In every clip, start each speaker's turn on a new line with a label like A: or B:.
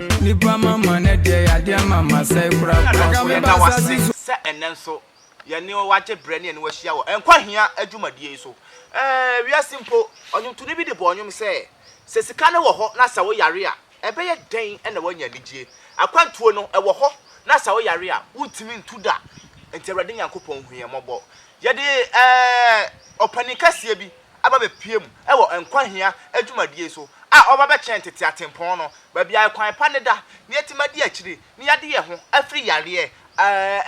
A: Nipa mama ne deɛ yadeɛ ama ma sɛe korakora. Nanso yɛda wo ase sɛ ɛnnɛ nso yɛne wo agye berɛ ne yɛne wo ahyia wɔ Nkwa Hia dwumadie yi so. Ɛɛ, wiase mpo, ɔnwomtoni bi de bɔɔ nnwom sɛ, Sɛ sika no wɔ hɔ na sɛ woyare a, ɛbɛyɛ dɛn na woanya anigyeɛ? Akwantuo no, ɛwɔ hɔ, na sɛ woyare a, wontumi ntu da. Enti Awurade Nyankopɔn, hu yɛn mmɔbɔ. Yɛde ɛɛ, ɔpanin kɛseɛ bi. aba bepue mu wɔ nkwa hia adwumadie so a ɔba bɛkyɛn tete atempɔn no, baabi a ɛkwan pa no da, na yɛatumi adi akyire na yɛade yɛn ho afiri yareɛ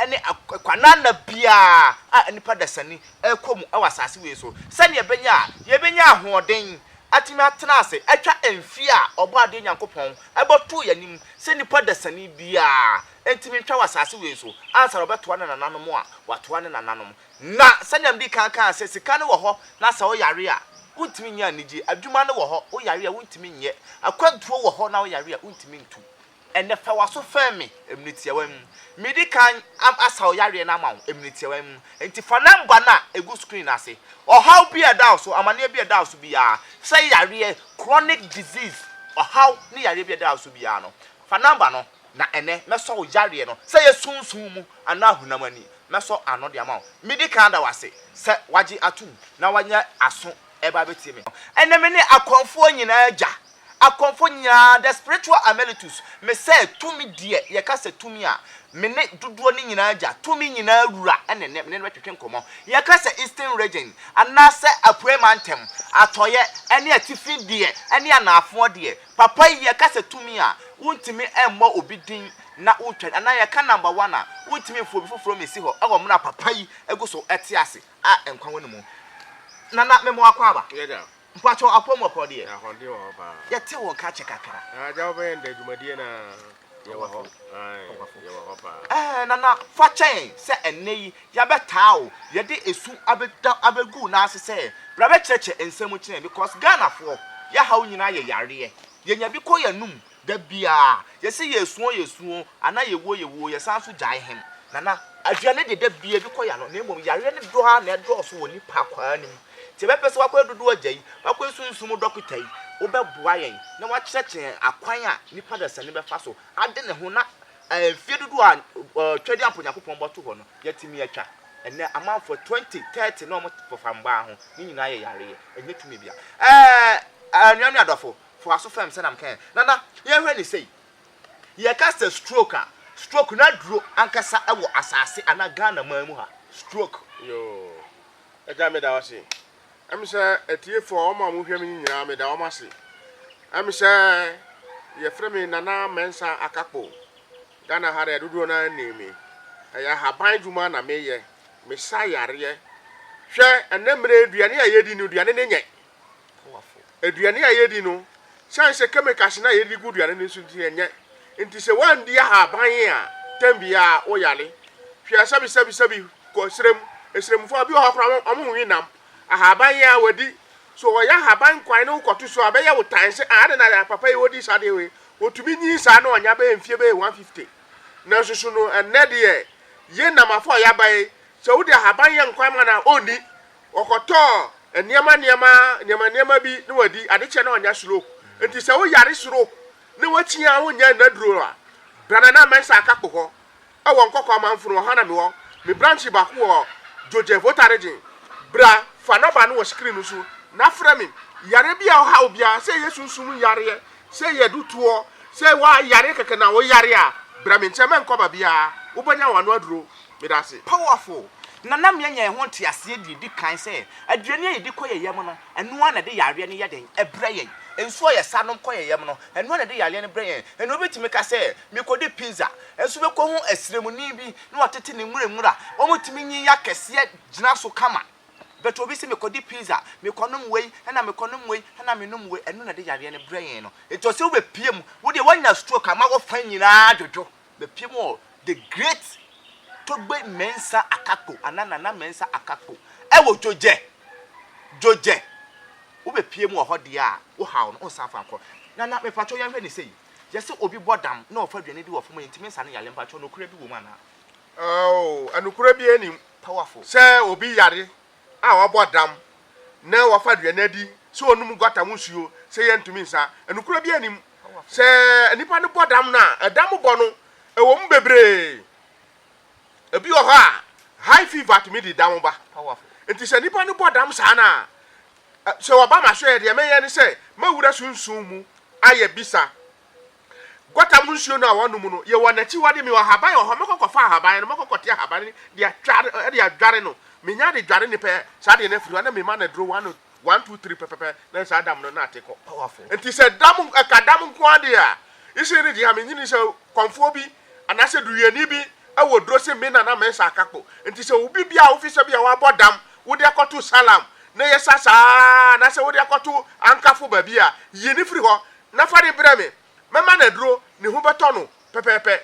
A: ne kwananna biara a nnipa dasani rekɔ mu wɔ asase wei so, sɛdeɛ ɛbɛnya a yɛbɛnya ahoɔden atumi atena ase atwa mfeɛ a Ɔbɔadeɛ Nyankopɔn bɛtoo yɛn anim sɛ nnipa dasani biara ntumi ntwa wɔ asase wei so ansa na ɔbɛtoa ne nananom a watoa ne nananom. Na, sɛnea mede kan kae sɛ, sika no wɔ hɔ, na sɛ woyare a, wuntumi nyɛ anigye. Adwuma no wɔ hɔ, woyare a, wuntumi nyɛ. Akwantuo wɔ hɔ, na woyare a, wuntumi ntu. Ɛnnɛ, fa w'aso fɛm me, emene tiawa mu. Medi kan asa wo yareɛ no ama wo, emene tiawa mu. Enti fa nɔmba no a egu screen no ase. Ɔhaw bi a ɛda wo so, amaneɛ bi a ɛda wo so biara, sɛ yareɛ, chronic disease, ɔhaw ne yareɛ bi a ɛda wo so biara no, fa nɔmba no Na ɛnnɛ, mɛsɔ wo yareɛ no, sɛ ɛyɛ sunsum mu anaa honam ani, mɛsɔ ano de ama wo. Medi kan da wo ase sɛ woagye atom na woanya aso reba abɛtie me. Ɛnnɛ mene akɔmfoɔ nyinaa agya, akɔmfoɔ nyinaa, the spiritual Amelitus. Mesɛ tumi deɛ yɛka sɛ tumi a, mene dodoɔ no nyinaa agya, tumi nyinaa wura na ɛnnɛ mene no bɛtwetwe nkɔmmɔ. Yɛka sɛ Eastern Region anaasɛ Apueɛ Mantam, Atɔeɛ ne Atifi deɛ ne Anaafoɔ deɛ, Papa yi yɛka sɛ tumi a, wontumi mmɔ obi din na wotwa no, anaa yɛka number one a, wontumi mfa obi foforɔ mmɛsi hɔ wɔ mmerɛ a papa yi gu so te ase a nkwa wɔ ne mu. Nana mema wo akwaaba. Yes dear. Mpakyɛw apɔw mu ɔpɔw deɛ. Ahoɔden wɔ hɔ paa. Yɛte wo nka kyɛ kakra. Agya wobɛyɛ ndɛ dwumadie no aa. Yɛwɔ hɔ. Yɛwɔ hɔ paa. Ɛɛ, Nana, fa kyɛn sɛ ɛnnɛ yi yɛabɛtaa wo, yɛde esu abɛda abɛgu wo nan ase sɛ bra bɛkyerɛkyerɛ nsɛm kyerɛ yɛn because Ghanafoɔ, yɛhaw nyinaa yɛ yareɛ. Yɛnya bi kɔ yɛn anom da biara. Yɛse yɛresuo yɛsuo anaa yɛwuo yɛwuo, yɛsan nso gyae hem. Nana, aduane deɛ da biara bi kɔ yɛn ano na mmom yareɛ no dɔ ara na ɛdɔɔso wɔ nnipa akwaa no mu. Nti yɛbɛpɛ sɛ woakɔ adudu ɔgya yi, woakɔ esunsum mu dɔkota yi, wobɛboa yɛn na woakyerɛkyerɛ yɛn akwan a nipa dasani bɛfa so ade ne ho na mfeɛ dodoɔ a twadi ampa Onyankopɔn bɔto hɔ no yɛatumi atwa. Ɛnnɛ amanfoɔ twenty, thirty na wɔn pofa mmaa ho, ne nyinaa yɛ yareɛ, ɛnyɛ tumi bia. Ɛɛ anua ne adɔfo, fa w'aso fɛm sɛnea meka yɛn. Nana, yɛnhwɛ ne sei, yɛka sɛ stroke a, stroke n'aduro ankasa wɔ asase anaa Ghana man mu ha, stroke. Yoo. Agya, meda wo ase. Ɛm sɛ atiefo a wɔn a wɔhwɛ me nyinaa, meda wɔn ase. Ɛm sɛ yɛfrɛ me Nana Mensa Akakpo. Ghana ha deɛ dodoɔ no ara nnim me. Ɛyɛ ahaban adwuma na meyɛ. Mesa yareɛ. Hwɛ, ɛnnɛ mmerɛ yi, aduane a yɛdi no, aduane no nyɛ. Aduane a yɛdi no, sane sɛ chemicals no a yɛde gu aduane no nso nti ɛnyɛ. Nti sɛ woandi ahaban a, tɛm biara woyare. Hwɛ sɛbisɛbisɛbi kɔ serem, seremfoɔ a bi wɔ hɔ koraa wɔn wɔn nwe nam. Ahaban yi a wadi, so wɔyɛ ahaban kwan na wokɔto so a ɛbɛyɛ wo tan sɛ ah adɛn na papa yi wodi saa deɛ wei. Wɔtumi nyin saa na wɔnya bɛyɛ mfie bɛyɛ 150. Nanso so no ɛnnɛ deɛ, yɛn namafo a yɛaba yi, sɛ wode ahaban yɛ nkwan ma no a ɔnni. Wɔkɔtɔɔ nneɛma nneɛma nneɛma nneɛma bi na wɔadi. Adekyɛ na wɔanya stroke. Nti sɛ woyare stroke na woakyi a wonyɛ nnaduro a, bra Nana Mensah Akakpo hɔ wɔ Nkɔkɔ Amanfo no, ɔha na mewɔ. Me branch baako wɔ Djodje, Volta Region. Bra fa nɔba no wɔ screen no so na frɛ me. Yareɛ bi a ɔhaw biara, sɛ ɛyɛ sunsum yareɛ, sɛ ɛyɛ dutoɔ, sɛ woayare kɛkɛ na woyare a, bra me nkyɛn, mɛnkɔ baabiara. Wobɛnya w'ano aduro. Meda ase. Powerful! Na na mianya ɛho nteaseɛ deɛ ɛdi kan sɛ aduane a yɛdi kɔ yɛn yam no, ɛno ara na ɛde yareɛ no yɛ dɛn? Ɛbrɛ yɛn. Nsuo a yɛsa nom kɔ yɛn yam no, ɛno ara na ɛde yareɛ no brɛ yɛn. Ɛnna obi tumi ka sɛ, Mekɔdi pizza, nso mekɔhu asiremuni bi na watete ne nwuranwura. Wɔtumi nyin akɛseɛ gyina so kama. But obi se, Mekɔdi pizza, mekɔnom wei, ɛnna mekɔnom wei, ɛnna menom wei. Ɛno na ɛde yareɛ no brɛ yɛn no. Enti ɔsɛ wobɛpue mu. Wo deɛ, woanya stroke ama wo fa nyinaa adwodwo. Bɛpiem wɔ The Great Togbe Mensah Akakpo anaa Nana Mensah Akakpo wɔ Djoudjè, Djoudjè. Wobɛpiem wɔ hɔ deɛ a, wo haw no, wonsan fa nkɔ. Nana, mepakyɛw yɛnhwɛ no sei. Yɛse obi bɔ dam na ɔfa aduane di wɔ fam a, yɛntumi nsa no yare. Mpakyɛw, nokorɛ bi wɔ mu anaa? Aww, nokorɛ biara nnim. Powerful. Sɛ obi yare a wabɔ adam na wafa aduane adi, sɛ ɔnom gutter mu nsuo, sɛ yɛntumi nsa, ɛnokorɛ biara nim. Sɛ nipa no bɔ dam no a, ɛdam bɔ no, ɛwɔ mu bebree. Ebi wɔ hɔ a, high fever tumi de dam ba. Nti sɛ nipa no bɔ dam saa no a, sɛ wɔba ma so yɛ deɛ mɛyɛ ne sɛ, mɛwura sunsun mu ayɛ bisa. Gutter mu nsuo no a wɔnom no, yɛwɔ n'akyiwade, mewɔ ahaban wɔ hɔ, mɛkɔ kɔfa ahaban no, mɛkɔ kɔte ahaban no de atware, de adware no, menya de dware ne pɛ, saa deɛ no afiri hɔ, na mema no aduro one, one, two, three pɛpɛpɛ, na saa dam no na ate kɔ. Powerful. Nti sɛ dam, ɛka dam nko ara deɛ a, isi ne gye ha, menyini sɛ kɔmfoɔ bi, anaasɛ duruyɛni bi wɔ duro se me na na mesa akakpo. Nti sɛ obi bi a wofi sɛ bi a wabɔ dam, wode akɔto Salem, na yɛsa saa, anaasɛ wode akɔto Ankafo baabi a, yi ne firi hɔ, na fa no brɛ me, mɛma no aduro, ne ho bɛtɔ no pɛpɛɛpɛ.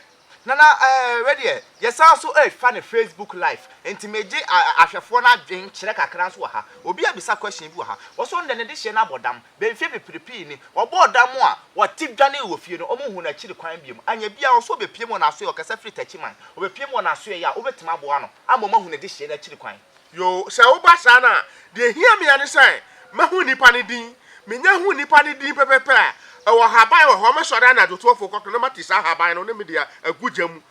A: Nana eh wei deɛ yɛsan nso refa no Facebook live nti megye ahwɛfoɔ no adwene kyerɛ kakra nso wɔ ha. Obi abisa question bi wɔ ha, ɔse ɔndɛ ne dehyeɛ no abɔ dam, bɛyɛ mfeɛ beprepee ni, ɔbɔɔ dam a ɔte dwanee wɔ fie no ɔmo nhuu no akyiri kwan biom, anyɛ biaa ɔse ɔbɛpiem wɔ n'asoɛɛ ɔkasa firi Takyiman, ɔbɛpiem wɔ n'asoɛɛ a wobɛtumi aboa no ama ɔmo ahu ne dehyeɛ no akyiri kwan. Yoo, sɛ woba saa no a, deɛ ɛhia me ara ne sɛ mɛhu nnipa no din. Menya hu nnipa no din pɛpɛpɛ a, ɛwɔ haban wɔ hɔ, mɛsɔre anadwo to afuo kɔto na mate saa haban no na mede agu gya mu.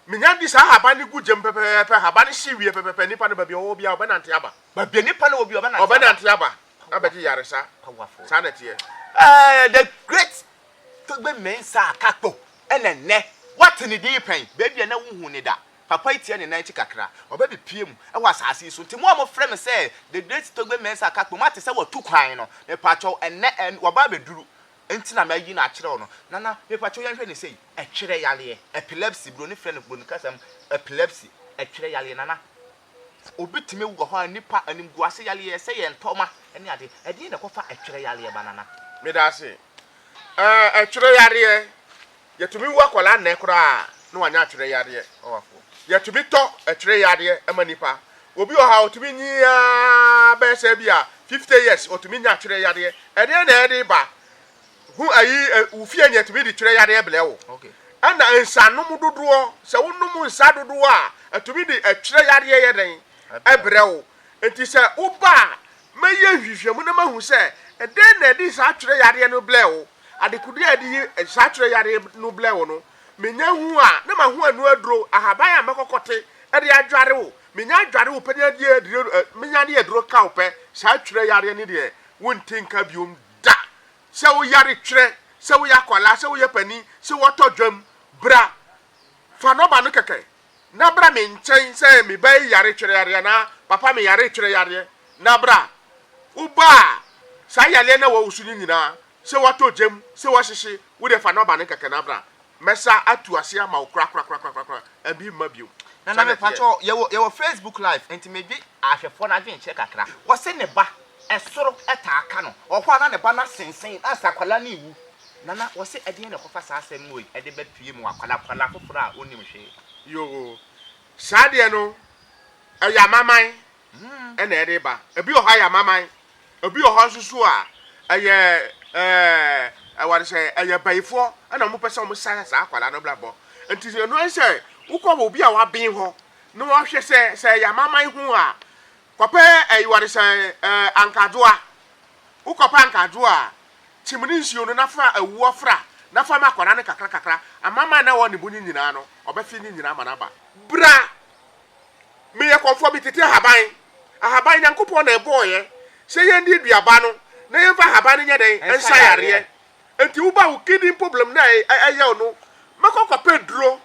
A: Menya de saa haban no gu gya mu pɛpɛpɛ, haban no hye wie pɛpɛpɛ, nnipa no baabi a ɔwɔ biara ɔbɛnante aba. Baabi a nnipa no wɔ biara ɔbɛnante aba. Ɔbɛnante aba abɛgye yaresa. Saa na ɛteɛ. Ɛɛ, the great Togbe Mensah Kakpo na nnɛ woate ne din pɛn, baabi a na wonhuu no da. Papa yi teɛ ne nan akyi kakra. Ɔba bi pue mu wɔ asase yi so. Nti mo a mofrɛ me sɛ The Great Togbe Mensah Kakpo, moate sɛ wɔatu kwan no. Mepakyɛw, ɛnnɛ ɛn, waba abɛduru. Nti na mayi no akyerɛ wo no. Nana, mepakyɛw yɛnhwɛ no sei. Ɛtwerɛ yareɛ. Epilepsy, Buroni frɛ no, Buroni kasa mu, epilepsy. Ɛtwerɛ yareɛ, Nana. Obi tumi wu wɔ hɔ a, nnipa animguase yareɛ, sɛ yɛn tɔma ne adeɛ. Ɛdeɛn na ɛkɔfa ɛtwerɛ yareɛ ba, Nana? Medaase. Ɛɛ, ɛtwerɛ yareɛ. Yɛtumi wu akwadaa nnɛ koraa na wanya atwerɛ yadeɛ. Yɛtumi tɔ atwerɛ yadeɛ ma nnipa. Obi wɔ ha ɔtumi nyin ara bɛyɛ sɛ bi a 50 years ɔtumi nya atwerɛ yadeɛ. Ɛdeɛ na ɛde ba? Hu ayi wo fie nea ɛtumi de twerɛ yadeɛ blɛ wo. Ɛna nsanom dodoɔ, sɛ wonom nsa dodoɔ a, ɛtumi de atwerɛ yadeɛ yɛ dɛn? Ɛbrɛ wo. Nti sɛ woba a, mɛyɛ nhwehwɛmu na mahu sɛ ɛdeɛ na ɛde saa atwerɛ yadeɛ no blɛ wo. Adekodeɛ a yɛde yi nsakyerɛ yareɛ no blɛ wo no, menya hu a, na ma ho anu aduro, ahaban a mɛkɔkɔte de adware wo. Menya adware wo pɛ ne adie adire, menya ne aduro ka wo pɛ. Saa twerɛ yareɛ ne deɛ, wonte nka biom da. Sɛ wo yare twerɛ, sɛ woyɛ akwadaa, sɛ woyɛ panin, sɛ wɔtɔ dwam, bra, fa nɔba no kɛkɛ, na bra me nkyɛn sɛ me ba yi yare twerɛ yareɛ anaa papa me yare twerɛ yareɛ na bra woba a saa yareɛ na wɔwo so no nyinaa sɛ wɔatɔ gyam sɛ wɔahyehye wo deɛ fa nɔba no kɛkɛ na bra mɛsa atu ase ama wo korakorakorakorakora ɛbi mma bio Nana me pakyɛ yɛwɔ yɛwɔ Facebook live nti medwe ahwɛfoɔ no adwenkyerɛ kakra wɔse ne ba ɛsoro ɛtaa ka no ɔhɔ a na ne ba no asensen na sɛ akwadaa no rewu Nana, wɔse ɛdeɛn na ɛkɔfa saa asɛm no wei ɛde ba pie mu wɔ akwadaa akwadaa foforɔ a ɔnnim hwee. Yoo, saa deɛ no ɛyɛ amaman na ɛde ba. Ebi wɔ hɔ a ɛyɛ amaman, ebi wɔ hɔ nso so a ɛyɛ ɛɛ wɔde sɛ ɛyɛ bayifoɔ na wɔpɛ sɛ wɔn sa saa akwadaa no brabɔ. Nti sɛ ɛno sɛ wokɔ wɔ obi a waben hɔ na wɔhwɛ sɛ sɛ ɛyɛ amaman ho a, kɔpɛ ɛyi wɔde sɛ ɛɛ ankadwoa. Wokɔpɛ ankadwoa a. Kyim ne nsuo no na fa awuo fra na fa ma akwadaa no kakrakakra. Amanaman a na ɛwɔ ne bo no nyinaa no, ɔbɛfe ne nyinaa ama no aba. Bra, meyɛ kɔmfoɔ, metete ahaban. Ahaban, Nyankopɔn na ɛbɔeɛ. Sɛ yɛndi duaba no, na yɛmfa ahaban no nyɛ dɛn? Nsa yareɛ. Enti woba wo kidney problem no a ɛyɛ wo no, mɛkɔ akɔpɛ duro.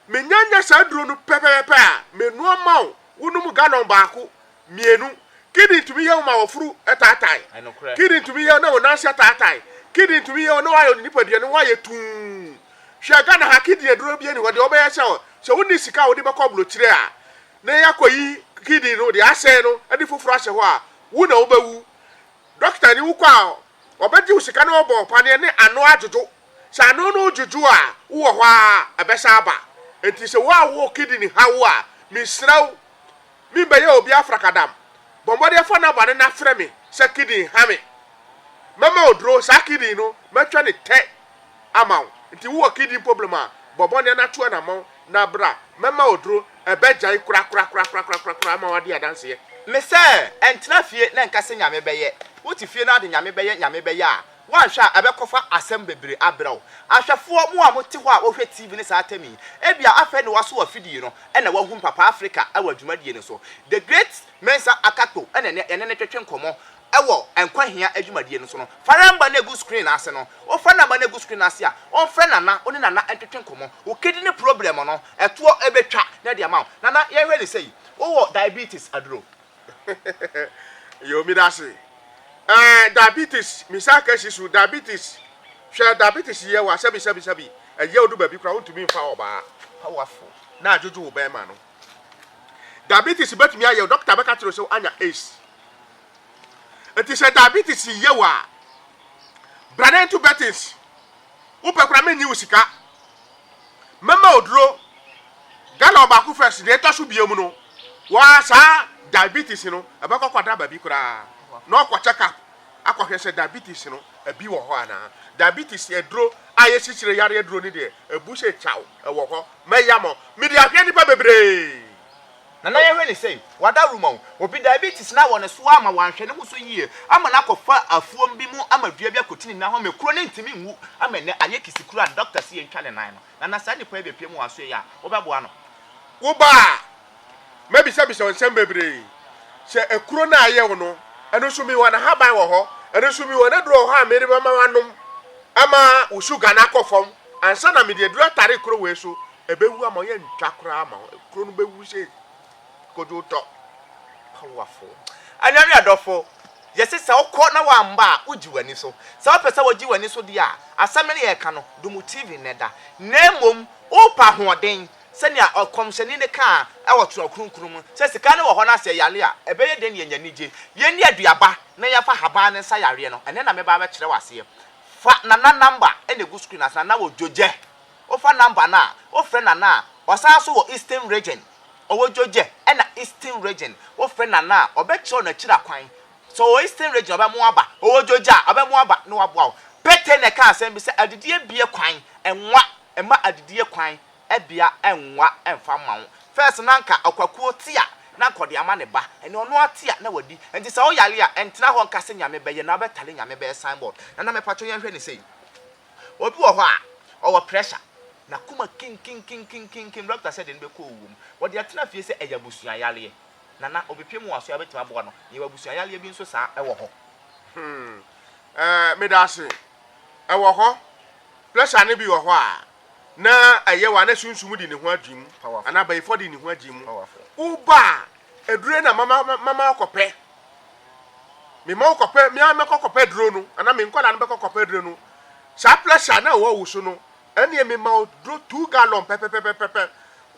A: Menyanya saa duro no pɛpɛpɛpɛ a, menoa ma wo, wonom gallon baako. Mmienu, Kidney tumi yɛ wo ma woforo taatae. Kidney tumi yɛ wo na wo nan ase ataatae. Kidney tumi yɛ wo na woayɛ wo nipadua no woayɛ tumm. Hwɛ Ghana ha kidney aduro bi ani hɔ deɛ wɔbɛyɛ sɛ sɛ wonni sika a wode bɛkɔ abrokyire a na yɛakɔyi kidney no deɛ asɛe no de foforɔ ahyɛ hɔ a wo na wobɛwu. Dɔkta ni wokɔ a ɔbɛgye wo sika na ɔbɔ wo paneɛ ne ano adwodwo. Sɛ ano no dwodwo a wowɔ hɔ ara ɛbɛsan aba. Nti sɛ wo a wowɔ kidney haw a mesrɛ wo Me bɛyɛ obi afrakadam Bɔ mmɔden fa naba no na frɛ me sɛ kidin ha me Mɛma wo duro saa kidin no mɛtwa ne tɛ ama wo Nti wo wɔ kidin poblem a bɔ mmɔden na tu anamɔn na bra Mɛma wo duro ɛbɛ gyae korakorakorakorakorakoraa ma w'adi adanseɛ. Me sɛ ɛntena fie na nka sɛ nyame bɛyɛ Wo te fie na ade nyame bɛyɛ nyame bɛyɛ a Woanhwɛ a, ɛbɛkɔfa asɛm bebree abrɛ wo. Ahwɛfoɔ, mo a mote hɔ a wohwɛ TV ne saa atɛm yi, ebia afei na woasɔ afidie yi no na woahu Mpapaa Afrika wɔ dwumadie no so. The great Mensah Akakpo na ɛnnɛ yɛne no twetwe nkɔmmɔ wɔ Nkwa Hia dwumadie no so no. Fa rɛmba no gu screen no ase no. Wofa namba no agu screen no ase a, ɔmfrɛ Nana, wo ne Nana ntwetwe nkɔmmɔ. Wo kidney problem no, ɛtoɔ bɛtwa na ɛde ama wo. Nana, yɛnhwɛ no sei, wowɔ diabetes aduro? Yo me da se. Eh diabetes me sa ka si so diabetes hwɛ diabetes yɛ wa sɛbi sɛbi sɛbi ɛyɛ odu baabi kura wontumi nfa ɔbaa powerful na adwodwo wo bɛrima no diabetes bɛtumi ayɛ dɔkta bɛka kyerɛ sɛ anya ace nti sɛ diabetes yɛ wa brane nto betins Wopɛ koraa mennye wo sika. Mɛma wo duro gallon baako first, deɛ ɛtɔ so biom no, waa saa diabetes no ɛbɛkɔ kɔda baabi koraa na ɔkɔ check up akɔhwɛ sɛ diabetes no ebi wɔ hɔ anaa. Diabetes aduro a yɛsikyire yareɛ aduro no deɛ ebu sɛ kyaw ɛwɔ hɔ. Mɛyam ɔ, mede ahwɛ nnipa bebree. Nana yɛhwɛ ne sɛn? Wada roma o. Obi diabetes no awɔ ne so amma wanhwɛ ne ho so yie ama no akɔfa afuom bi mu ama dua bi akɔti ne nan ho ama kuro no ntumi nwu ama ɛnnɛ ayɛ kisikuro a doctor se yɛntwa ne nan no. Nana saa nipa yi bɛpue mu wɔ asoɛeɛ a, wobɛboa no? Wo ba a, mɛbisabisa wo nsɛm bebree. Sɛ akuro no a ayɛ wo no, ɛno nso mewɔ n'ahaban wɔ hɔ. Ɛno nso mewɔ n'aduro wɔ hɔ a mede bɛma wanom ama wo sugar no akɔ fam Ansa na mede aduru atare kuro wei so, ɛbɛwu ama yɛntwa koraa ma wo. Kuro no bɛwu sɛ kodwo tɔ. Powerful. Anuanom adɔfo, yɛse sɛ wokɔ na woamma a, wogye w'ani so. Sɛ wopɛ sɛ wogye w'ani so deɛ a, asɛm no yɛreka no, dɔ mu TV nnɛ da. Na mmom, wopɛ ahoɔden, sɛnea ɔkɔmhyɛni no kaa wɔ Twerɛ Kronkron mu sɛ, Sika no wɔ hɔ na sɛ yɛyare a, ɛbɛyɛ dɛn na yɛanya anigye? Yɛnni aduaba na yɛmfa nhaban no nsa yareɛ no, ɛnnɛ na mɛba abɛkyerɛ wo aseɛ. Fa Nana number na egu screen ase, Nana wɔ Dwogyɛ. Wofa number no a, wofrɛ Nana a ɔsan nso wɔ Eastern Region. Ɔwɔ Dwogyɛ ɛna Eastern Region. Wofrɛ Nana a, ɔbɛkyerɛ wo n'akyiri akwan. Sɛ ɔwɔ Eastern Region a, ɔbɛma wo aba. Ɔwɔ Dwogyɛ a, ɔbɛma wo aba na waboa wo. Pete na ɛkaa asɛm bi sɛ, Adidie bue kwan, ɛnwa, ɛma adidie kwan. bia ɛnwa ɛnfa mma wo first na nka ɔkwakuo te a na nka ɔde ama ne ba ɛnɛ ɔno ara te a na wadi nti sɛ woyare a ɛntena hɔ nka sɛ nyame bɛyɛ na wobɛtare nyame bɛyɛ signboard nana mɛpatwo yɛn hwɛ ne sei obi wɔ hɔ a ɔwɔ pressure na kuma kinkinkinkinkinkin doctor sɛ de no bɛkɔ owuo mu wɔde atena fie sɛ ɛyɛ abusua yareɛ nana obepie mu waso a bɛtumi aboa no yɛwɔ abusua yareɛ bi nso saa ɛwɔ hɔ hmm ɛɛ eh, medase ɛwɔ hɔ pressure ne bi wɔ hɔ a na ɛyɛ wa na sunsum di ne ho adwene mu anaa bayifɔ di ne ho adwene mu woba a aduro na mama mama ɔkɔpɛ mema ɔkɔpɛ mea mɛkɔ kɔpɛ aduro no anaa me nkɔla no bɛkɔ kɔpɛ aduro no saa pressure na ɛwɔ wo so no ɛneɛ mema ɔduro two gallon pɛpɛpɛpɛpɛ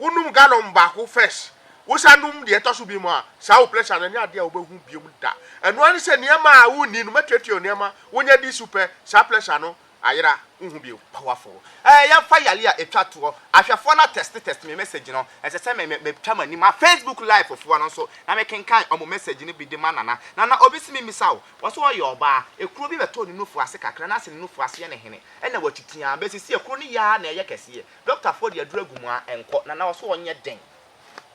A: wonom gallon baako first wosa nom deɛ ɛtɔ so bi mu a saa wo pressure no ɛnyɛ adeɛ a wobɛhu biom da ɛnoa ne sɛ nneɛma a wonni no mɛtuatua nneɛma wonya di so pɛ saa pressure no Ayera, wonhu bio. Powerful. Eh, yɛmfa yale a etwa toɔ. Ahwɛfoɔ no atɛste tɛste me message no. Ɛsɛ sɛ me me metwa m'ani ma Facebook live foɔ no nso na me kenkan wɔn message no bi de ma Nana. Nana, obi se me mmisa wo, ɔse ɔyɛ ɔbaa, ekuro bi bɛtɔɔ ne nufu ase kakra na ase ne nufu ase yɛ ne hene, ɛna watu tiaa, besi sie ekuro no yɛ ara na ɛyɛ kɛseɛ. Doctor foɔ de aduro agu mu a, ɛnkɔ. Nana, ɔse ɔnyɛ den.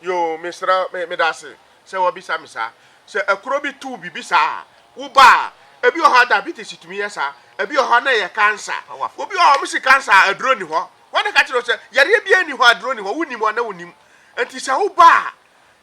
A: Yoo, mesrɛ, me, meda ase sɛ woabisa me saa. Sɛ akuro bi tow biribi saa a, woba a, ebi wɔ hɔ a diabetes tumi yɛ saa, ebi wɔ hɔ na ɛyɛ kansa. Obi wɔ hɔ a wɔsi kansa a, aduro nni hɔ. Wɔn na ka kyerɛ wo sɛ, yareɛ biara nni hɔ a aduro nni hɔ. Wonim wɔn na wonim. Nti sɛ woba a,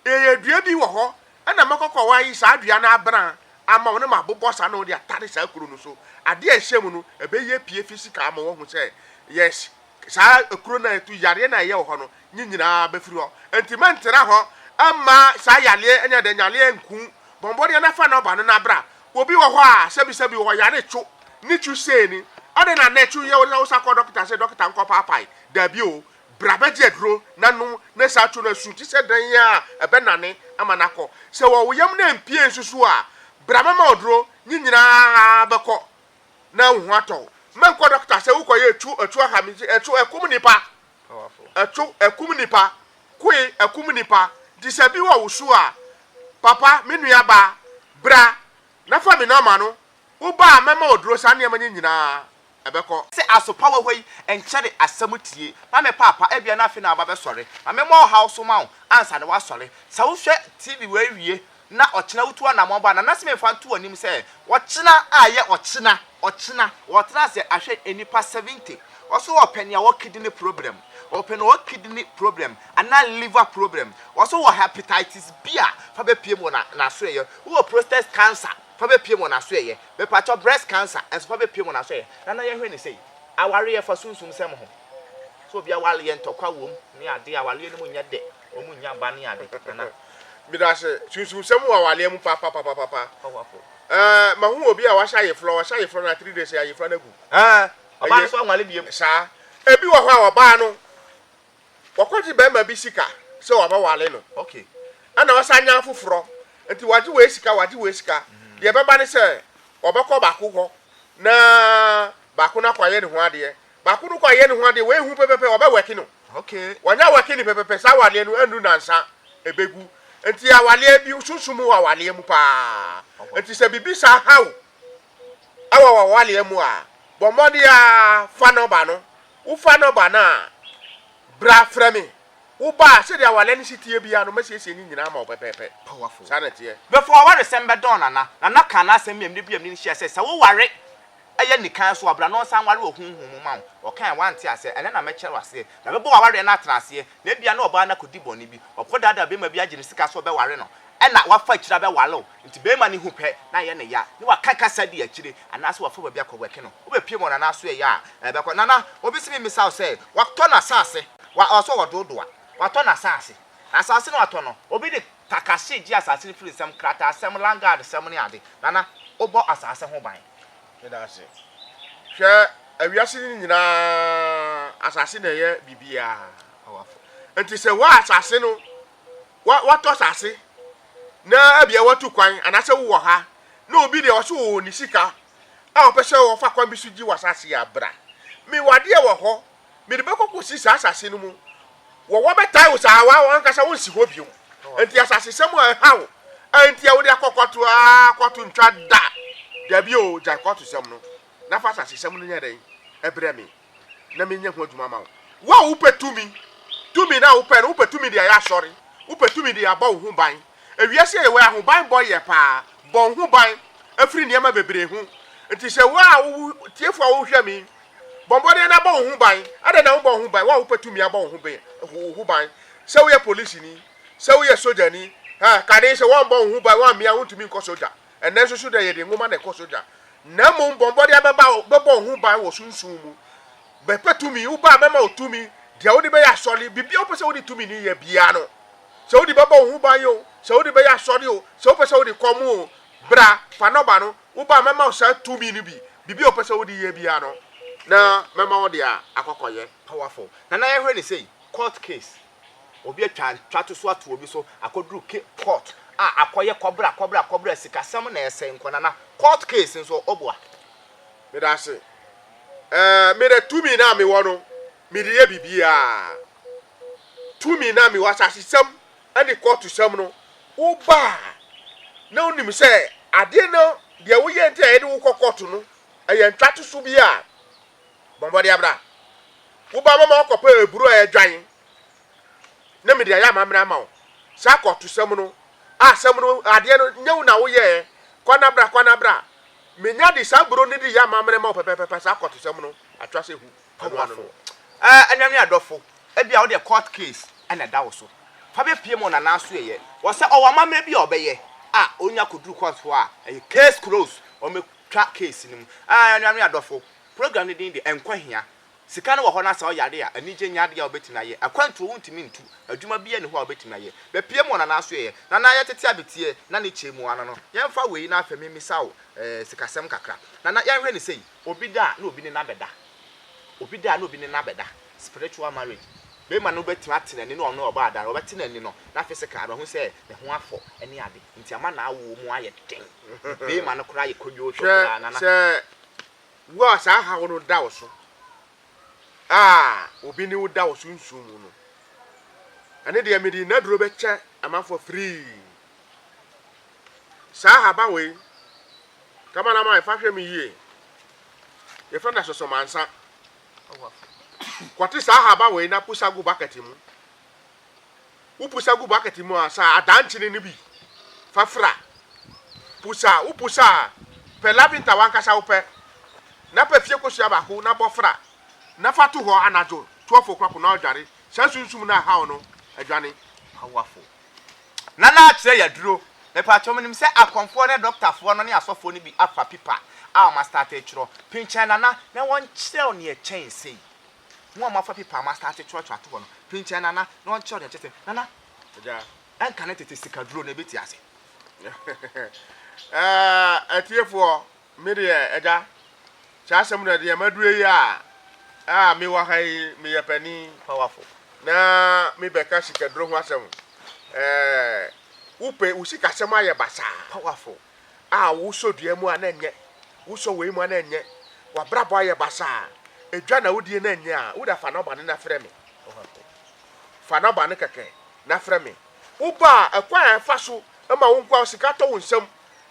A: yɛyɛ dua bi wɔ hɔ, ɛna mɛkɔkɔ hɔ ayi saa dua no abena ama wo na mabobɔ saa na wode atare saa akuro no so. Adeɛ a ɛhyɛ mu no, ɛbɛyi apue physically ama woahu sɛ, yes, saa akuro no a ɛtu yareɛ no a ɛyɛ wɔ hɔ no, nye nyina bɛfiri hɔ. Enti menntena hɔ mma saa yareɛ ne adanyareɛ nku bɔnbɔneɛ no afa n'ɔba no na bra. Obi wɔ hɔ a sɛbisɛbi ɔyare two ne two sei ni, adɛn na nɛ two yɛ wo na wo san kɔ dɔketa se dɔketa nkɔ paapae. Daabi o, bra bɛgye aduro na nom na saa two no asu te sɛ dan a ɛbɛnane ama no akɔ. Sɛ wɔ wo yam na ɛmpie nsusu a, bra mɛma wo duro, nye nyina bɛkɔ na wo ho atɔ wo. Mɛnkɔ dɔketa sɛ wokɔyɛɛ two, two aha me, two akum nnipa. Ɛto ɛkum nnipa, koe ɛkum nnipa, nti sɛ bi wɔ wo su a, papa, me nua baa, bra na fa me nɔma no, wo ba a mɛma ɔduro, saa nneɛma nye nyinaa ɛbɛkɔ. Sɛ asopa wɔ hɔ yi, nkyɛre asɛm tie, ma me paapa, ebia na afei na waba bɛsɔre, ma memmɔ ɔhaw so ma wo ansa na woasɔre, sɛ wohwɛ TV wei wie na ɔkyena wotu anamɔn ba a, Nana Simei fa nto w'anim sɛ, Ɔkyena a ɛyɛ ɔkyena, ɔkyena. Ɔtena ase ahwɛ nnipa seventy. Ɔse ɔpɛ nea ɔwɔ kidney problem, ɔpɛ nea ɔwɔ kidney problem anaa liver problem. Ɔse wowɔ hepatitis B a, fa bɛpiem wɔ na n'asoɛeɛ. Wowɔ prostate cancer, fa bɛpiem wɔ n'asoɛeɛ. Mepakyɛw, breast cancer nso fa bɛpiem wɔ n'asoɛeɛ. Nana yɛhwɛ no sei, awareɛ fa sunsumsɛm ho. Sɛ obi awareɛ ntɔkwa wom ne adeɛ, awareɛ no mu nyɛ dɛ. Wɔn nnya ba ne ade, Nana. Medase. Sunsumsɛm wɔ awaleɛ mu papapapapa. Powerful. Ɛɛ, mahu obi a wahyɛ ayefrɔ, wahyɛ ayefrɔ na three days ayefrɔ no agu. Ɛɛ, ɔbaa no nso anwale biom. Saa. Ebi wɔ hɔ a ɔbaa no, wɔkɔgye bɛrima bi sika sɛ wɔabɛwale no. Okay. Ɛna ɔsan nya afoforɔ, nti wɔagye wei sika, wɔagye wei sika. Mm-hmm. Deɛ ɛbɛba ne sɛ, ɔbɛkɔ baako hɔ na baako no akɔayɛ ne ho adeɛ, Baako no kɔ ayɛ ne ho adeɛ wei hu pɛpɛpɛ ɔbɛ wɛke no okay wanya wɛke ne pɛpɛpɛ saa awaleɛ no ɛnu nansa ɛbɛgu nti awaleɛ bi sunsum wɔ awaleɛ mu paa nti sɛ bibi saa haw ɛwɔ wɔ awaleɛ mu a bɔ mmɔde a fa nɔba no wo fa nɔba no a bra frɛ me wo ba a sɛdeɛ awaleɛ no si teɛ bia no mɛsiesie ne nyinaa ma wo pɛpɛpɛ saa na teɛ. Before awaresɛm bɛdɔn Nana, Nana kaa n'asɛm bi a mene biam ne no hyia sɛ sɛ woware Ɛyɛ nikan so a, bra na ɔnsan nware wɔ honhom mu mma wo. Ɔkae, Woante aseɛ? Ɛnnɛ na mɛkyerɛ wo aseɛ. Na mɛbɔ w'awareɛ no atena aseɛ. Na ebia na ɔbaa no akɔdi bɔne bi. Ɔkɔdaadaa barima bi agye no sika sɛ ɔbɛware no. Ɛnna wafa akyire abɛware wo. Enti barima no hu pɛ na ayɛ no ya. Na waka kasa di akyire. Anaasɛ wafa baabi akɔwɛke no. Wobɛpiem wɔ Nana so ɛyɛ a, ɛbɛkɔ. Nana, obi se memmisa wo sɛ, watɔ n'asaase? Wa, ɔsɛ ɔwɔ doodoa. Watɔ n'asaase. Asaase no a watɔ no, obi de Takashi gye asase no firi nsɛm, krataasɛm, landguardsɛm ne ade. Nana, wobɔ asase ho ban? Meda ase. Hwɛ, wiase no nyinaa, asase na ɛyɛ biribiara. Awafo. Enti sɛ woa asase no, wa, woatɔ asase, na ebia woatu kwan, anaasɛ wowɔ ha, na obi deɛ ɔso wɔ ne sika, a ɔpɛ sɛ ɔfa kwan bi so gye w'asase a, bra. Me w'adeɛ wɔ hɔ, mede bɛkɔ kɔsi saa asase no mu wɔ wɔbɛtae wo saa wa wankasa wonsi hɔ biom nti asasesɛm a ɛhaw nti a wode akɔ kɔto a kɔto ntwa da dabi o gyae kɔto sɛm no na fa asasesɛm no nyɛ dɛn ɛbrɛ me na menyɛ ho adwuma ma wo wo a wopɛ tumi tumi na wopɛ no wopɛ tumi de ayɛ asɔre wopɛ tumi de abɔ wo ho ban ewiase a yɛwɔ ahoban bɔ yɛ paa bɔ wo ho ban afiri nneɛma bebree ho nti sɛ wo a wo tiefo a wohwɛ me Bɔ mmɔden na bɔ wo ho ban. Adɛn na wobɔ wo ho ban? Wo a wopɛ tumi abɔ wo ho ban, wo ho ban. Sɛ woyɛ polisini, sɛ woyɛ sogyani, ha, kane sɛ wɔmmɔ wo ho ban, woammea wontumi nkɔ sogya. Ɛnnɛ nso so dɛ yɛde nwoma na ɛkɔ sogya. Na mmom bɔ mmɔden bɛba bɛbɔ wo ho ban wɔ sunsum mu. Bɛpɛ tumi, woba a mɛma wo tumi, deɛ wode bɛyɛ asɔre, biribiara wopɛ sɛ wode tumi no yɛ biara no. Sɛ wode bɛbɔ wo ho ban o, sɛ wode bɛyɛ asɔre o, sɛ wopɛ sɛ wode kɔm o, bra, fa nɔba no, Wo ba, mɛma wo saa tumi no bi. Biribi a ɔpɛ sɛ ɔde yɛ biara no, na mɛma wo de akɔkɔyɛ. Powerful. Nana yɛhwɛ no sei, court case, obi atwa ntwatoso ato obi so akɔduru ke, court a, akɔyɛ kɔbra kɔbra kɔbra, sikasɛm na ɛsɛe nkɔ Nana, court case nso ɔboa. Meda ase. Ɛɛ, me de tumi no a mewɔ no, mede yɛ biribiara. Tumi no a mewɔ, asasesɛm, ne kɔɔtosɛm no, woba a, na wonim sɛ adeɛ no, deɛ woyɛ nti a yɛde wo kɔ kɔɔto no, ɛyɛ ntwatoso bi a, bɔ mmɔden bra. Woba mama wakɔpɛ aburo a ɛdwan na mede ayɛ amammerɛ ama wo. Saa kɔɔtosɛm no, a asɛm no, adeɛ no, nyɛ wo na woyɛɛ, kɔ na bra, kɔ na bra. Menya de saa aburo no de yɛ amammerɛ ma wo pɛpɛɛpɛ, saa kɔɔtosɛm no, atwa sɛ hu. Ɔboafo, Ɛɛ, anuanom ne adɔfo, ebia wo deɛ court case na ɛda wo so. Fa bepue ma ɔnana nso yɛyɛ. Wɔ sɛ ɔwɔ amammerɛ bi a ɔbɛyɛ a, onya kɔduru court hɔ a, ɛyɛ case closed, wɔbɛtwa case no mu. Ɛɛ, anuanom ne adɔfo, program no din de Nkwa Hia. Sika no wɔ hɔ na sɛ ɔyare a, anigye nyɛ adeɛ a wobɛtumi ayɛ. Akwantuo wontumi ntu. Adwuma biara nni hɔ a wobɛtumi ayɛ. Bepue ma ɔnana nso yɛyɛ. Nana, yɛtete abeteɛ, na ne kyɛ mu. Anano, yɛmfa wei na afei memmisa wo, ɛɛ, sikasɛm kakra. Nana, yɛnhwɛ no sei. Obi da a na obi ne no abɛda. Obi da a na obi ne no abɛda, spiritual marriage. Barima no bɛtumi ate n'ani ne ɔno a ɔbɔ adar, ɔbɛte n'ani no na physically wabehu sɛ ne ho afɔ ne ade nti ama n'awoɔ mu ayɛ den. Barima no koraa yɛ kodwoo tɔ koraa nana. Hwɛ, sɛ wo a saa haw no da wo so a obi ne wo da wɔ sunsum mu no, ɛno deɛ mede nnaduro bɛkyɛ amanfoɔ free. Saa ahaban wei, Kamanaman, fa hwɛ me yie. Yɛfrɛ no asosomansa. Kɔte saa ahaban wei na pusa gu bucket mu. Wo pusa gu bucket mu a, saa adankyene no bi fa fra. Pusa, wo pusa a, pɛ laventa wankasa wopɛ. Na pɛ fie kosua baako na bɔ fra. Na fa to hɔ anadwo 12 o'clock na ɔdware. Saa sunsum no a ɛhaw no adwane. Powerful. Nana kyerɛ yɛ aduro. Mepatwɔ menim sɛ akɔmfoɔ ne dɔktafoɔ no ne asɔfoɔ no bi afa pipa a wɔn astate twerɔ. Pinkyɛn Nana na wɔnkyerɛ wo neɛ kyɛn sei. Mo a mo afa pipa a mo astate twerɔ twerɛ ato hɔ no, pinkyɛn Nana na ɔnkyerɛ wo neɛ kyɛn sei. Nana, ɛnka ne tete sikaduro no ɛbɛti ase. Ɛɛ atiefoɔ, Me deɛ Agya, saa asɛm no na deɛ madue yi a, a mewɔ ha yi, meyɛ panin pawafo, na mebɛka sikaduro ho asɛm. Ɛɛ, wopɛ wo sikasɛm ayɛ basaa pawafo a wosɔ dua mu a na ɛnyɛ, wosɔ wei mu a na ɛnyɛ, wabrabɔ ayɛ basaa, edwa na wodie na ɛnyɛ a, woda fa nɔba no na frɛ me. Fa nɔba no kɛkɛ na frɛ me. Woba a, ɛkwan a ɛfa so ma wo nkoa sika tɔ wo nsam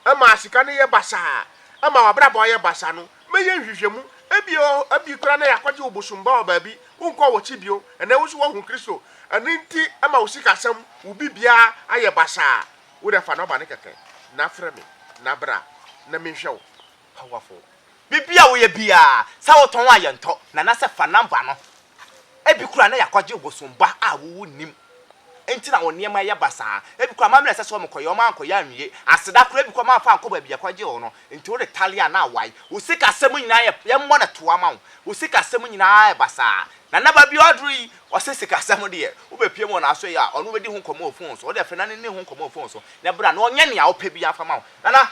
A: ɛma sika no yɛ basaa, ɛma w'abrabɔ yɛ basaa no, mɛyɛ nhwehwɛmu. Ebia ɔ, ɛbi koraa na yɛakɔgye wo bosomba wɔ baabi, wonkɔɔ w'akyi bio, ɛnnɛ wo nso woahu Kristo. Ɛno nti ɛma wo sikasɛm, wo biribiara ayɛ basaa. Wo deɛ fa nɔba no kɛkɛ, na frɛ me, na bra, na menhwɛ wo. Powerful. Biribi a woyɛ biara, sɛ wotɔn a yɛntɔ, na na sɛ fa number no. Ebi koraa na yɛakɔgye bosom ba a wowu nnim nti na wo nneɛma ɛyɛ basaa. Ebi koraa amammerɛ a ɛsɛ sɛ wɔkɔyɛ, wɔankɔyɛ anwie. Aseda koraa ebi koraa wɔamfa ankɔ baabi a yɛkɔgyee wo no, nti wo retaliate a na awae. Wo sikasɛm nyinaa yɛ, yɛmmɔ no toa mma wo, wo sikasɛm nyinaa yɛ basaa. Nana Baabi a ɔduru yi, ɔse sikasɛm deɛ, wobɛpue mu wɔ n'aso yi a, ɔno wobɛdi ho nkɔmmɔ wɔ phone so. Wode afei Nana nni ho nkɔmmɔ wɔ phone so, na bra na ɔnyɛ nea wopɛ biara mfa ma wo. Nana!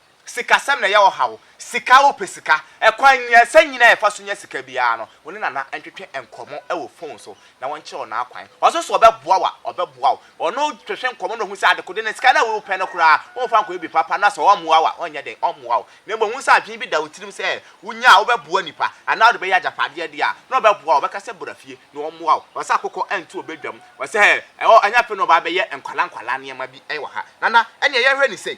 A: Sikasɛm na ɛyɛ ɔhaw. Sika, wopɛ sika. Ɛkwan mmiɛnsa nyinaa a yɛfa so nya sika biara no, wo ne Nana ntwetwe nkɔmmɔ wɔ fon so na wɔnkyerɛ wo n'akwan. Ɔso so ɔbɛboa wo a, ɔbɛboa wo. Ɔno twetwe nkɔmmɔ na ohu sɛ adekode no, sika no a worepɛ no koraa, womfa nkɔyɛ biribi papa na sɛ ɔmmoa wo a, ɔnyɛ dɛn? Ɔmmoa wo. Na mmom hu sɛ adwene bi da wo tirim sɛ wunya a wobɛboa nnipa anaa wode bɛyɛ agyapadeɛ de a, na ɔbɛboa wo. Ɔbɛka sɛ bra fie na ɔmmoa wo. Ɔsɛ akokɔ nto ɔbadwam. Ɔsɛ ɛnyɛ afei na ɔba abɛyɛ nkwadaa nkwadaa nneɛma bi wɔ ha. Nana, ɛnneɛ yɛnhwɛ no sei.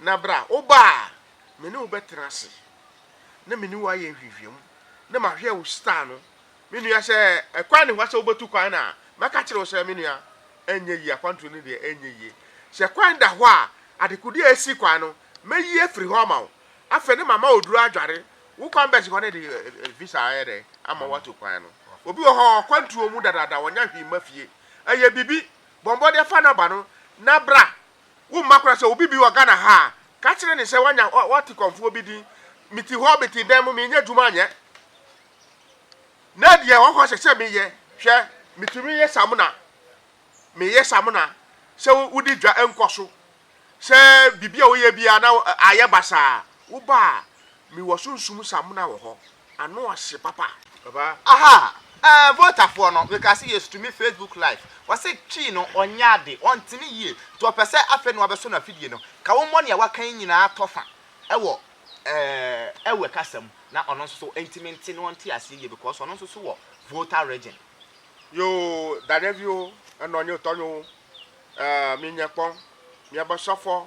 A: Na bra, woba a, me ne wo bɛtena ase, na me ne wo ayɛ nhwehwɛmu, na mahwɛ wo star no. Me nua, sɛ ɛkwan ne hɔ sɛ wobɛtu kwan no a, mɛka akyerɛ wo sɛ, me nua, ɛnyɛ yie, akwantuo no deɛ ɛnyɛ yie. Sɛ kwan da hɔ a, adekodeɛ a ɛsi kwan no, mɛyi afiri hɔ ama wo. Afei ne mama oduro adware wo kwan bɛsi hɔ no de visa ayɛ dɛ ama woatu kwan no. Obi wɔ hɔ a, ɔkwantuo mu dadaada, ɔnya hwee mma fie. Ɛyɛ biribi, bɔ mmɔden fa no ba no, na bra, Wo mma koraa sɛ obi bi wɔ Ghana ha a, ka kyerɛ no sɛ wanya wate kɔmfoɔ bi din. Mete hɔ, mete dan mu, menyɛ adwuma nyɛ. Na deɛ wɔkɔ sɛ sɛ meyɛ, hwɛ, metumi yɛ samona. Meyɛ samona. Sɛ wodi dwa nkɔ so. Sɛ biribi a woyɛ biara na ayɛ basaa, woba a, Me wɔ sunsum samuna wɔ hɔ ano ɔhye papa. Papa. Aha eh votafoɔ no mekaa sɛ yesu tumi facebook live wɔse twii no ɔnyɛ ade ɔntene yie nti ɔpɛsɛ afei na wabɛsɔ no afidie no ka wo mmɔ nea waka yi nyinaa tɔ fa wɔ eh ɛwɛ kasa mu na ɔno nso so ntimi nte na ɔnte aseɛ yie because ɔno nso so wɔ voter region Yoo Daniel vio ɛnɔ nye tɔ nyo eh mi nyɛ kpɔn miɛ bɛ sɔfɔ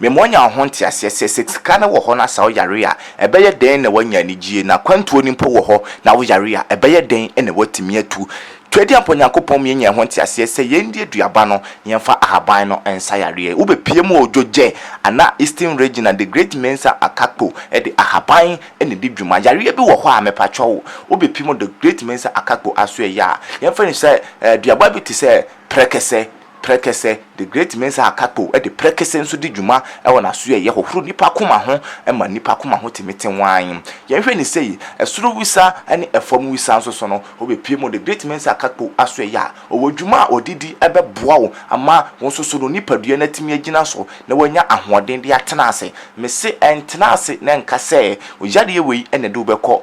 A: Mema wɔnya ho nteaseɛ sɛ, sɛ sika no wɔ hɔ na sɛ woyare a, ɛbɛyɛ dɛn na woanya anigyeɛ, na kwantuo no mpo wɔ hɔ na woyare a, ɛbɛyɛ dɛn na woatumi atu. Tweaduampɔ Nyankopɔn mma yɛnya ho nteaseɛ sɛ yɛndi aduaba no na yɛmfa ahaban no nsa yareɛ. Wobɛpie mu o Dwogyɛ anaa Eastern Region a The Great Mensah Akakpo de ahaban na ɛdi dwuma. Yareɛ bi wɔ hɔ a mepakyɛw wo, wobɛpie mu The Great Mensah Akakpo asoɛyɛ a, yɛmfa no sɛ aduaba bi te sɛ prɛkɛsɛ, Prɛkɛsɛ, The Great Mesa Akapo de prɛkɛsɛ nso di dwuma wɔ n'aso a ɛyɛ hohoro nnipa koma ho ma nnipa koma ho tumi te wann. Yɛnhwɛ no sei, Soro wisa ne fam wisa nso so no, wobɛpue mu. The Great Mesa Akapo aso ɛyɛ a, ɔwɔ dwuma a ɔde di bɛboa wo ama wo nso so no nipadua no atumi agyina so na woanya ahoɔden de atena ase. Mese ntena ase na ɛnka sɛ yareɛ wei na ɛde wobɛkɔ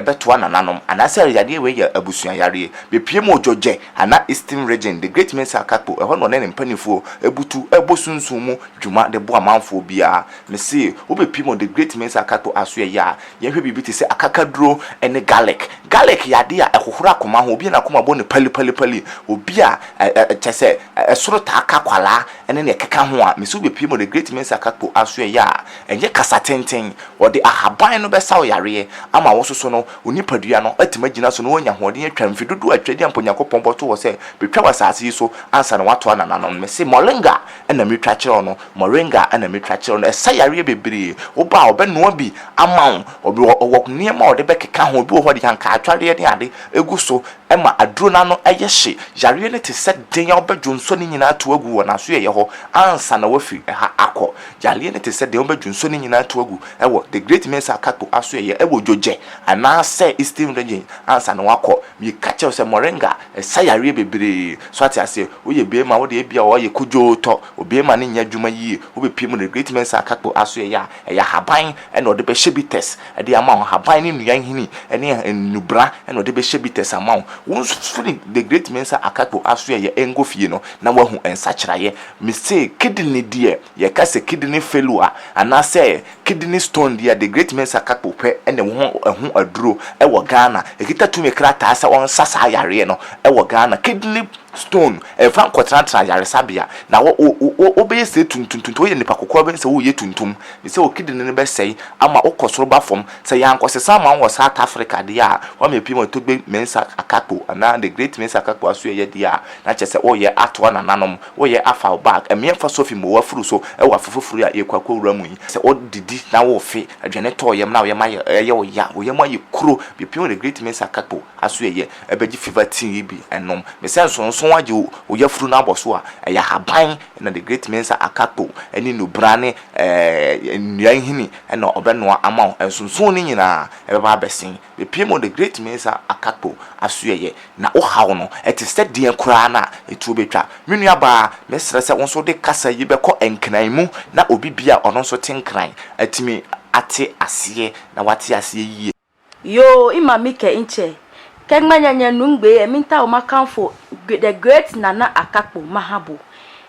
A: bɛtoa nananom anaasɛ yareɛ wei yɛ abusua yareɛ. Bɛpue mu ogyɔgyɛ. Ana Eastern Region, The Great Mesa Akakpo, ɛhɔ na ɔne ne mpaninfoɔ butu bɔ sunsum mu dwuma de boa amanfoɔ biara. Mese wobɛpie mu wɔ The Great Mesa Akakpo asoɛeɛ a, yɛnhwɛ biribi te sɛ akakaduro ne garlic. Garlic yɛ adeɛ a ɛhohoro akoma ho, obi a n'akoma bɔ no pali pali pali, obi a kyerɛ sɛ ɛsoro taa ka akwadaa ne deɛ ɛkeka ho a, mese wobɛpie mu wɔ The Great Mesa Akakpo asoɛeɛ a, ɛnyɛ kasa tenten, wɔde ahaban no bɛsa wo yareɛ ama wososo no Wo nipadua no atumi agyina so na woanya ahoɔden atwa mfe dodow a Twadi a mpo Onyankopɔn bɔto hɔ sɛ betwa wɔ asase yi so ansa na wɔatoa nananom no. Mese moringa na metwa kyerɛ wo no, moringa na metwa kyerɛ wo no. Ɛsa yareɛ bebree. Wo ba a, ɔbɛnoa bi ama wo. Ɔbi wɔ ɔwɔ nneɛma a ɔde bɛkeka ho. Ebi wɔ hɔ a, ɔde ankaatwareɛ ne ade gu so ma aduro no ano yɛ hye. Yareɛ no te sɛ den a wobɛdwo nsɔ ne nyinaa atow agu wɔ n'asoɛeɛ hɔ ansa na wafi ha akɔ. Yareɛ no te sɛ den a wobɛdwo nsɔ ne nyinaa atow agu. wɔ The Great Mesa Akakpo asoɛeɛ wɔ Jojɛ anaa sɛ Eastern Region ansa na wakɔ. Meka kyerɛ wo sɛ Moringa ɛsa yareɛ bebree. So ate aseɛ? Woyɛ beema wo deɛ ebia ɔɔyɛ kodwoo tɔ, obeema no nyɛ adwuma yie. Wo bɛ pie mu The Great Mesa Akakpo asoɛeɛ a, ɛyɛ ahaban na ɔde bɛhyɛ bitters de ama wo. Ahaban ne nnua nhini ne nnubra na ɔde bɛhyɛ bitters ama wo. Wo nso firi The Great Mesa Akakpo asoɛeɛ nkɔ fie no na woahu nsakyeraeɛ. Mese kidney deɛ. Yɛka sɛ kidney failure anaasɛ kidney stone deɛ a The Great Mensah Kakpo pɛ na ɛwɔ ho ɛho aduro wɔ Ghana. Ɛkita tumi krataa sɛ ɔnsa saa yareɛ no wɔ Ghana. Kidney stone, mfa nkɔtenatena ayaresabea na wo wo wo wobɛyɛ sɛ tuntum tuntum. Woyɛ nipa kokoa wobɛyɛ sɛ woreyɛ tuntum ne sɛ wo kidney no bɛsɛe ama wokɔ soro ba fam. Sɛ yɛankɔsesa ama wo wɔ South Africa deɛ a, wama apue ma Togbe Mensah Kakpo anaa The Great Mensah Kakpo aso ɛyɛ deɛ a, na kyerɛ sɛ woreyɛ atoa nananom. Woyɛ afa wo bag mmea mfa sofi mmɔ w'afuru so wɔ afe foforo yi a yɛrekɔ akɔwura mu yi. Sɛ wodidi na wofe aduane tɔ wo yam na wo yam ayɛ ɛyɛ wo ya, wo yam ayɛ kuro, bepem wo de Great Mesa Kakpo asoɛeɛ bɛgye fever tea yi bi nom. Mesɛ nsonsono agye wo wo yafuru no abɔ so a, ɛyɛ ahaban na the Great Mesa Akakpo ne nnubra ne ɛɛ nnua nhini na ɔbɛnoa ama wo. Nsonsono no nyinaa ɛbɛba abɛsen. Bepie mu de, Great Mesa Akakpo asoɛeɛ na wo haw no te sɛ deɛn koraa no a ɛtuo bɛtwa. Me nua baa, me srɛ sɛ wo nso wode kasa yi bɛkɔ Nkran mu na obi bi a ɔno nso te Nkran atumi ate aseɛ na wate aseɛ yie. Yoo ima mi kɛ nkyɛ kɛ gmanya nya num gbee ɛminta o makanfo the great nana akakpo mahabo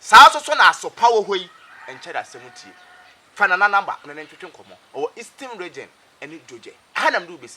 A: Saa nso so na asopa wɔ hɔ yi nkyɛrɛ asɛm tie. Fa Nana number ne no ntwetwe nkɔmmɔ. Ɔwɔ Eastern Region ne Djodje. Ɛha na mede wo bɛsi.